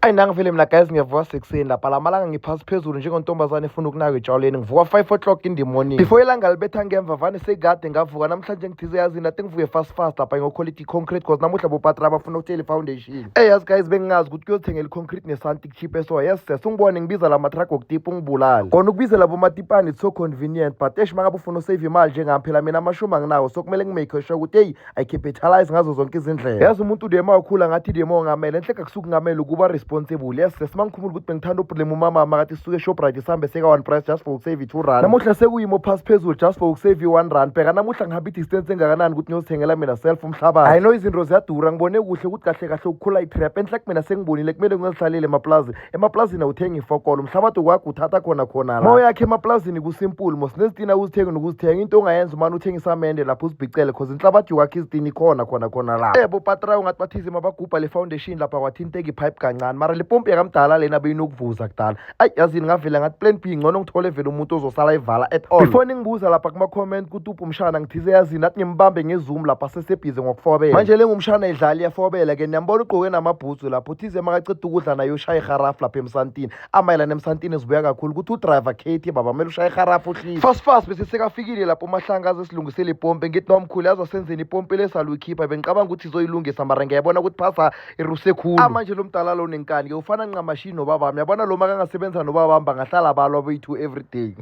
ayi nangivele mina guys ngiyavuka sekuseni lapha la malanga ngiphasi phezulu njengontombazane efuna ukunaka etshalweni ngivuka five o'clock in the morning before ilanga libetha ngemva vane sekade ngavuka namhlanje ngithize yazini ati ngivuke fast fast lapha ngiyokholita i-concrete cause namuhla bopatra bafuna ukutshela i-foundation ey yazi guys bengingazi ukuthi kuyothengela i-concrete nesanti kuchip eso yes ses ungibone ngibiza la matrack okutipa ungibulale kona ukubiza labo matipani it's so convenient but esh mangabe ufuna usave imali njengami phela mina amashumi anginawo so kumele ngimake sure ukuthi eyi I capitalize ngazo zonke izindlela yazi umuntu udema wakhula ngathi dema ongamele enhle kakusuke kungamele ukuba responsible yes sesi mangikhumula ukuthi bengithanda ublame umama makathi suke eshoprite sihambe seka one price just for ukusave two rand namuhla sekuyimo phasi phezulu just for ukusave one rand bheka namuhla ngihamba i-distance engakanani ukuthi ngiyozithengela mina self umhlabathi i know izinto ziyadura ngibone kuhle ukuthi kahle kahle ukukhula i-trap enhle kumina sengibonile kumele ngizihlalele emaplazi emaplasini awuthengi ifokolo umhlabathi kwakho uthatha khona khona la yakhe emaplasini kusimpuli mos nezitina uzithengi nokuzithenga into ongayenza umane uthenga isamende lapho uzibhicele cause inhlabathi kwakho izitini ikhona khona khona la ebo patra ungathi bathize mabagubha le foundation lapha kwathinteka ipipe kancane mara le pompi yakamdala lena beyinokuvuza kudala ayi yazini ngavela ngathi plan b ngcono ngithole vele umuntu ozosala ivala at all before ningibuza lapha kuma-comment kuthi uphi umshana ngithize yazini athi ngimbambe ngezoom lapha sesebhize ngokufobela manje lengumshana idlali yafobela ke niyambona ugqoke namabhutsu lapho ize makaqeda ukudla naye ushaye iharafu lapha emsantini amayelana emsantini zibuya kakhulu ukuthi udriver katie baba kumele ushaye iharafu uhlile fast fast bese sekafikile lapho umahlanga aze silungisele ipompe ngithi nomkhulu yazi wasenzeni ipompe lesaluyikhipha bengicabanga ukuthi izoyilungisa mara ngiyabona ukuthi phasa iruse khulu amanje lo mdala lo nenkani-ke ufana nqamashini nobabami yabona lo makangasebenza nobabami bangahlala balwa boyi-two everyday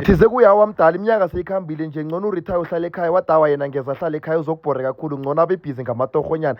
thize kuyawa mdala iminyaka seyikhambile nje ngcono urithaye uhlale ekhaya wadawa yena ngeza ahlale ekhaya uzokubhore kakhulu ngcono abebhizi ngamatorhonyana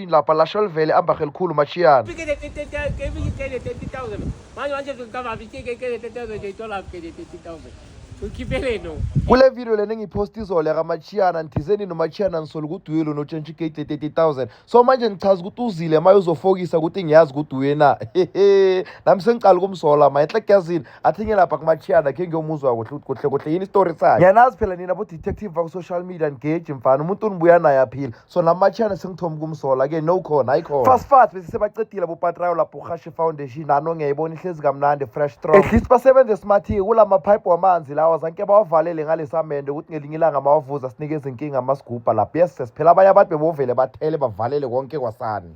lapha lasho livele ambahe likhulu machiyana kule video lena engiyiphosta izolo yakamachiyana ndithizeni nomachiyana ngisole ukuthi uye lona otshentsha igate le-thirty thousand so manje ngichaza ukuthi uzile maye uzofokisa ukuthi ngiyazi ukuthi uye na hehe nami sengiqala ukumsola ma enhle kuyazini athi ngelapha kumachiyana khe ngiyomuzwa kuhle ukuthi kuhle kuhle yini isitori sakhe ngiyanazi phela nina bo-detective baku-social media ngeji mfana umuntu unibuya naye aphila so namachana sengithoma ukumsola ke no khona ayikhona fast fast bese sebacedile bopatrayo lapho uhashe foundation nano ngiyayibona ihlezi kamnandi fresh strong at least basebenze smarty kula mapipe wamanzi lawa zanke bawavalele ngalesamende ukuthi ngelinye ilanga mawavuza sinike izinkinga amasigubha lapho yes sesiphela abanye abantu bebovele bathele bavalele konke kwasani